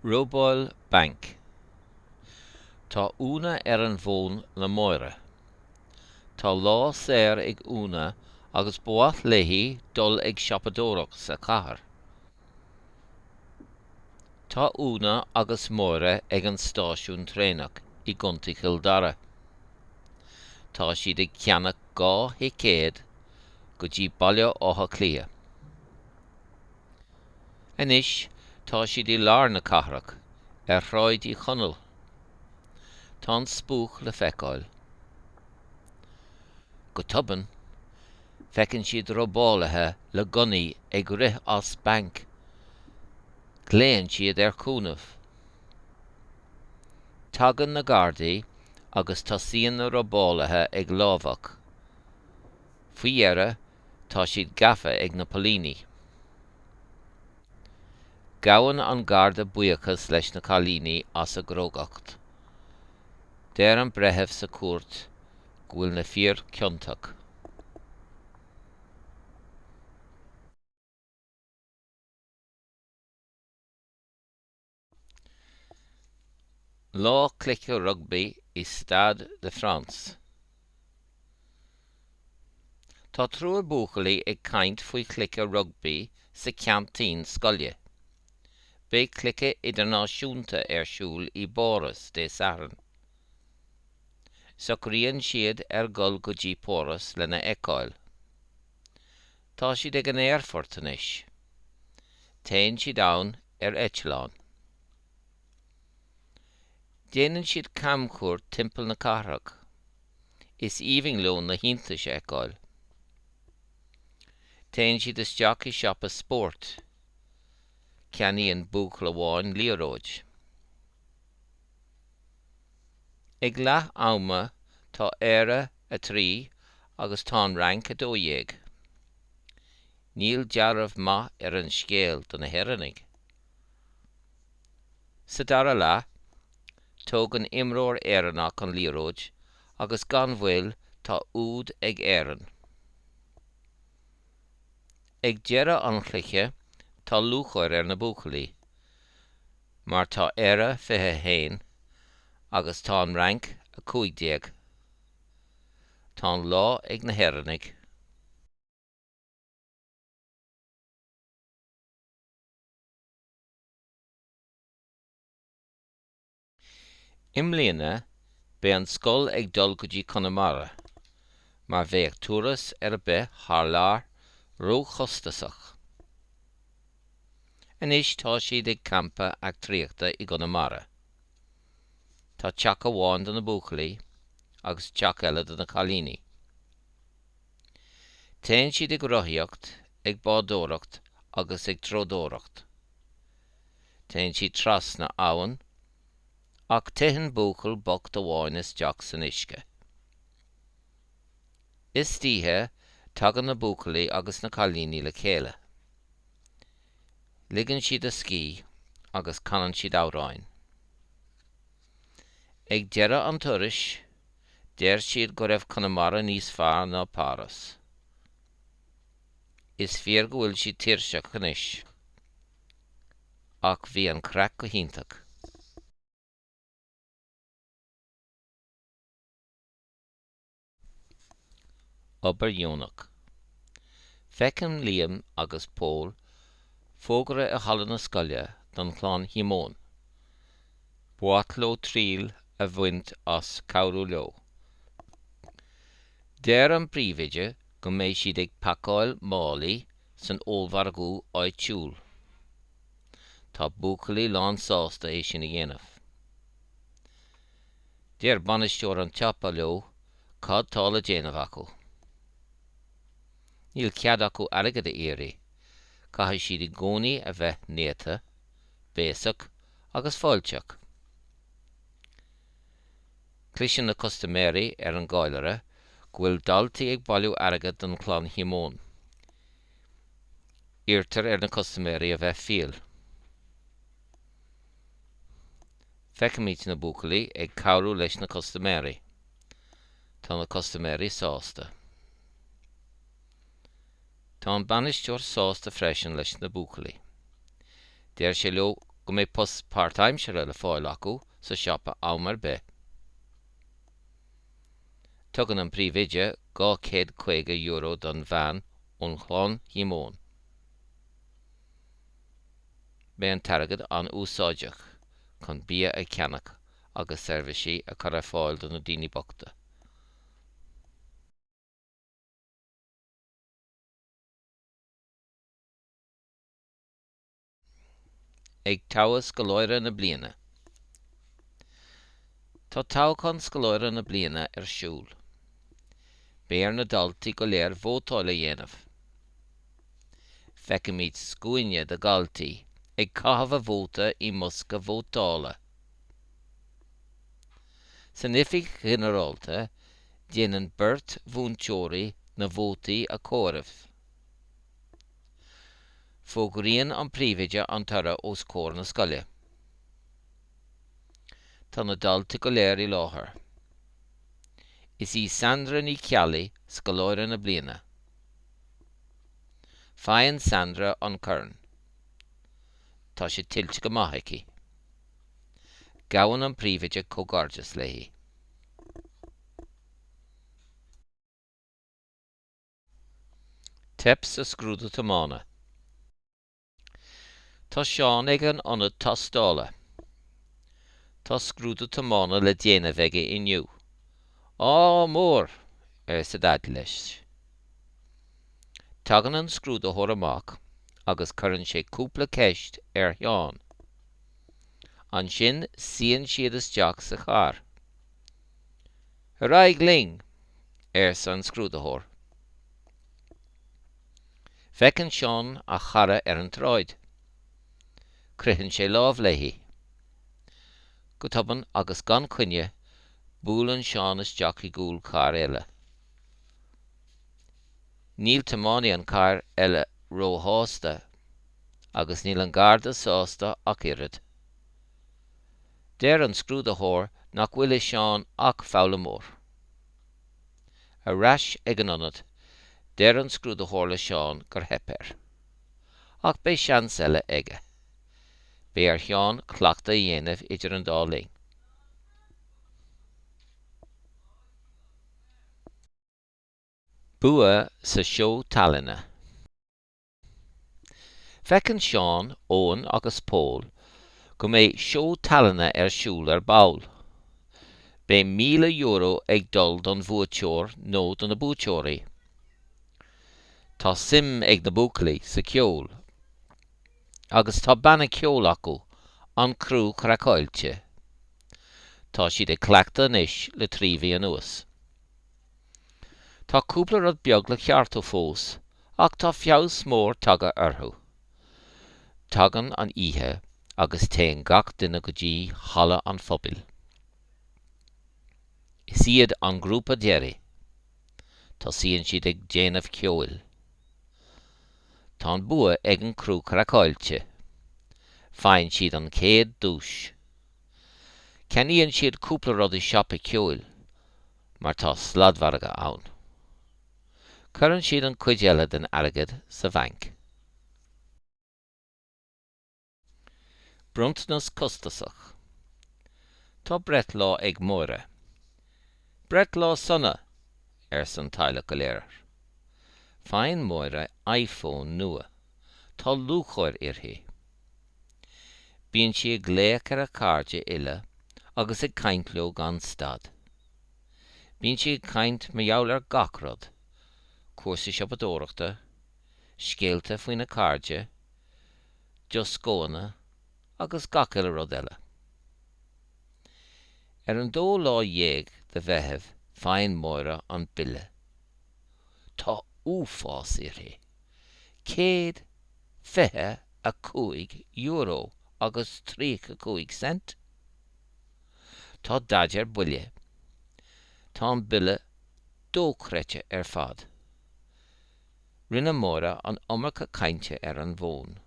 Robáil banc. Tá Úna ar an bhfón le Máire. Tá lá saor ag Úna agus ba mhaith léi dul ag siopadóireacht sa chathair. Tá Úna agus Máire ag an stáisiún traenach i gContae Chill Dara. Tá siad ag ceannach dhá thicéad go dtí Baile Átha Cliath. Anois tá siad i lár na cathrach, ar Shráid Uí Chonaill. Tá an spuaic le feiceáil. Go tobann, feiceann siad robálaithe le gunnaí ag rith as banc, glaonn siad ar chúnamh. Tagann na Gardaí agus tosaíonn na robálaithe ag lámhach. Faoi dheireadh, tá siad gafa ag na poilíní. Gabhann an Garda buíochas leis na cailíní as a gcrógacht. Deir an breitheamh sa chúirt go bhfuil na fir ciontach. Lá Cluiche Rugbaí i Stade de France. Tá triúr buachaillí ag caint faoi chluiche rugbaí sa cheaintín scoile. Beidh cluiche idirnáisiúnta ar siúl i bPáras Dé Sathairn. Socraíonn siad ar dhul go dtí Páras lena fheiceáil. Tá siad ag an aerfort anois. Téann siad ann ar eitleán. Déanann siad camchuairt timpeall na cathrach. Is aoibhinn leo na hiontais a fheiceáil. Téann siad isteach i siopa spóirt. Ceannaíonn buachaill amháin liathróid. Ag leath ama tá Éire 3 agus tá an Fhrainc 12. Níl dealramh maith ar an scéal do na hÉireannaigh. Sa dara leath, tógann imreoir Éireannach an liathróid agus gan mhoill tá úd ag Éirinn. Ag deireadh an chluiche tá lúcháir ar na buachaillí. Mar tá Éire 21 agus tá an Fhrainc a 15. Tá an lá ag na hÉireannaigh. I mbliana beidh an scoil ag dul go dtí Conamara mar bheadh turas ar bith thar lear róchostasach. Anois tá siad ag campa eachtraíochta i gConamara. Tá teach amháin do na buachaillí agus teach eile do na cailíní. Téann siad ag rothaíocht, ag bádóireacht agus ag treodóireacht. Téann siad trasna abhann ach titeann buachaill bocht amháin isteach san uisce. Istoíche tagann na buachaillí agus na cailíní le chéile. Ligeann siad a scíth agus canann siad amhráin. Ag deireadh an turais, deir siad go raibh Conamara níos fearr ná Páras. Is fíor go bhfuil siad tuirseach anois. Ach bhí an craic go hiontach. Obair dheonach. Feiceann Liam agus Pól fógra i halla na scoile don Chlann Shíomóin. Ba mhaith leo triail a bhaint as cabhrú leo. Deir an príomhoide go mbeidh siad ag pacáil málaí san ollmhargadh áitiúil. Tá buachaillí lán sásta é sin a dhéanamh. Deir bainisteoir an tsiopa leo cad tá le déanamh acu. Níl cead acu airgead a iarraidh, caithfidh siad i gcónaí a bheith néata, béasach agus fáilteach. Cloiseann na custaiméirí ar an gcallaire go bhfuil daltaí ag bailiú airgead don Chlann Shíomóin. Iarrtar ar na custaiméirí a bheith fial. Feicimid na buachaillí ag cabhrú leis na custaiméirí. Tá na custaiméirí sásta. Tá an bainisteoir sásta freisin leis na buachaillí. Deir sé leo go mbeidh post páirtaimsire le fáil acu sa siopa am ar bith. Tugann an príomhoide €250 don bhean ón Chlann Shíomóin. Beidh an t-airgead an-úsáideach chun bia a cheannach agus seirbhísí a chur ar fáil do na daoine bochta. Ag toghadh scoláire na bliana. Tá toghchán scoláire na bliana ar siúl. Beidh ar na daltaí go léir vótáil a dhéanamh. Feicimid scuaine de dhaltaí ag caitheamh a vóta i mbosca vótála. San oifig ghinearálta, déanann beirt mhúinteoirí na vótaí a chomhaireamh. Fógraíonn an príomhoide an toradh os comhair na scoile. Tá na daltaí go léir i láthair. Is í Sandra Ní Cheallaigh scoláire na bliana. Faigheann Sandra an corn. Tá sé tuillte go maith aici. Gabhann an príomhoide comhghairdeas léi. Teip sa scrúdú tiomána. Tá Seán ag an ionad tástála. Tá scrúdú tiomána le déanamh aige inniu. Ádh mór! arsa Daid leis. Tagann an scrúdaitheoir amach agus cuireann sé cúpla ceist ar Sheán. Ansin suíonn siad isteach sa charr. Ar aghaidh linn! arsa an scrúdaitheoir. Feiceann Seán a chara ar an tsráid. Croitheann sé lámh léi. Go tobann agus gan coinne buaileann Seán isteach i gcúl cairr eile. Níl tiománaí an chairr eile róshásta agus níl an Garda sásta ach oiread. Deir an scrúdaitheoir nach bhfuil i Seán ach foghlaimeoir. Ar ais ag an ionad, deir an scrúdaitheoir le Seán gur theip air. Ach beidh seans eile aige. Beidh ar Sheán cleachtadh a dhéanamh idir an dá linn. Bua sa seó tallainne. Feiceann Seán, Eoghan agus Pól go mbeidh seó tallainne ar siúl ar ball. Beidh €1,000 ag dul don bhuaiteoir nó do na buaiteoirí. Tá suim ag na buachaillí sa cheol agus tá banna ceoil acu, An Criú Craiceáilte. Tá siad ag cleachtadh anois le trí mhí anuas. Tá cúpla rud beag le ceartú fós ach tá feabhas mór tagtha orthu. Tagann an oíche agus téann gach duine go dtí halla an phobail. Is iad an grúpa deiridh. Tosaíonn siad ag déanamh ceoil. Tá an bua ag an gcriú craiceáilte. Faigheann siad an chéad duais. Ceannaíonn siad cúpla rud i siopa ceoil. mar tá sladmhargadh ann. Cuireann siad an cuid eile den airgead sa bhanc. Bronntanas costasach. Tá breithlá ag Máire. Breithlá sona! arsa an teaghlach go léir. Faigheann Máire iPhone nua. Tá lúcháir uirthi. Bíonn sí ag glaoch ar a cairde uile agus ag caint leo gan stad. Bíonn sí ag caint mar gheall ar gach rud, cúrsaí siopadóireachta, scéalta faoina cairde, dioscóanna agus gach uile rud eile. Ar an dó lá dhéag de Mheitheamh faigheann Máire an bille. Tá uafás uirthi! €125 agus 35 cent. Tá Daid ar buile. Tá an bille dóchreidte ar fad. Rinne Máire an iomarca cainte ar an bhfón.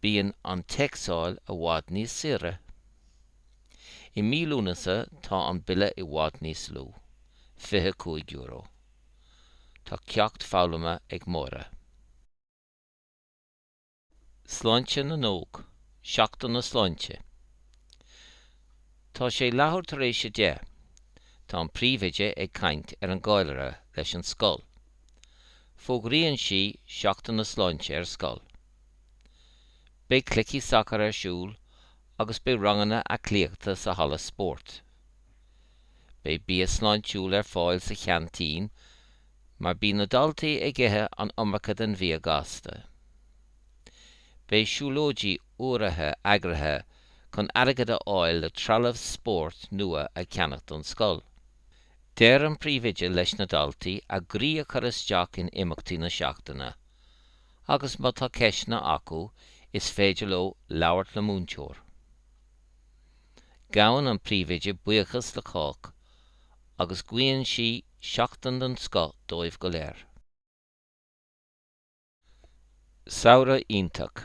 Bíonn an téacsáil i bhfad níos saoire. I mí Lúnasa tá an bille i bhfad níos lú, €25. Tá ceacht foghlamtha ag Máire. Sláinte na nÓg, Seachtain na Sláinte Tá sé leathuair tar éis a deich. Tá an príomhoide ag caint ar an gcallaire leis an scoil. Fógraíonn sí Seachtain na Sláinte ar scoil. Beidh cluichí sacair ar siúl agus beidh ranganna aclaíochta sa halla spóirt. Beidh bia sláintiúil ar fáil sa cheaintín mar bíonn na daltaí ag ithe an iomarca den bhia gasta. Beidh siúlóidí urraithe eagraithe chun airgead a fháil le trealamh spóirt nua a cheannach don scoil. Deir an príomhoide leis na daltaí a gcroí a chur isteach in imeachtaí na seachtaine agus má tá ceisteanna acu is féidir leo labhairt le múinteoir. Gabhann an príomhoide buíochas le cách agus guíonn sí seachtain den scoth dóibh go léir. Samhradh iontach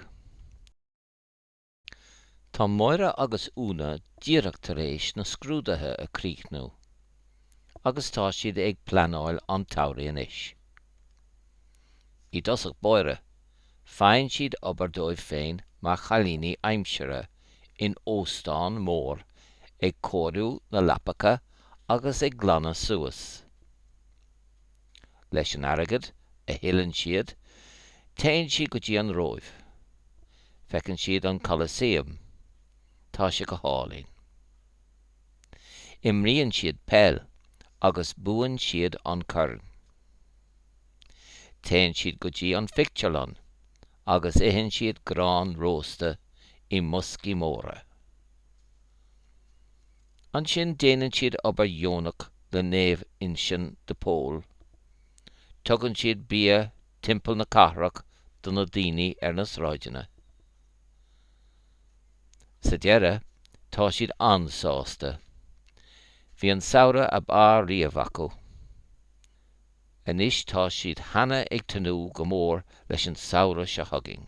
Tá Máire agus Úna díreach tar éis na scrúduithe a críochnú agus tá siad ag pleanáil an tsamhraidh anois. I dtosach báire, faigheann siad obair dóibh féin mar chailíní aimsire in óstán mór ag cóiriú na leapacha agus ag glanadh suas. Leis an airgead a thuilleann siad, téann siad go dtí an Róimh. Feiceann siad an Colosseum. Tá sé go hálainn. Imríonn siad peil agus buann siad an corn. Téann siad go dtí an phictiúrlann agus itheann siad grán rósta i mboscaí móra. Ansin déanann siad obair dheonach le Naomh Uinseann de Pól. Tugann siad bia timpeall na cathrach do na daoine ar na sráideanna. Sa deireadh, tá siad an-sásta. Bhí an samhradh ab fhearr riamh acu. Anois tá siad cheana ag tnúth go mór leis an samhradh seo chugainn.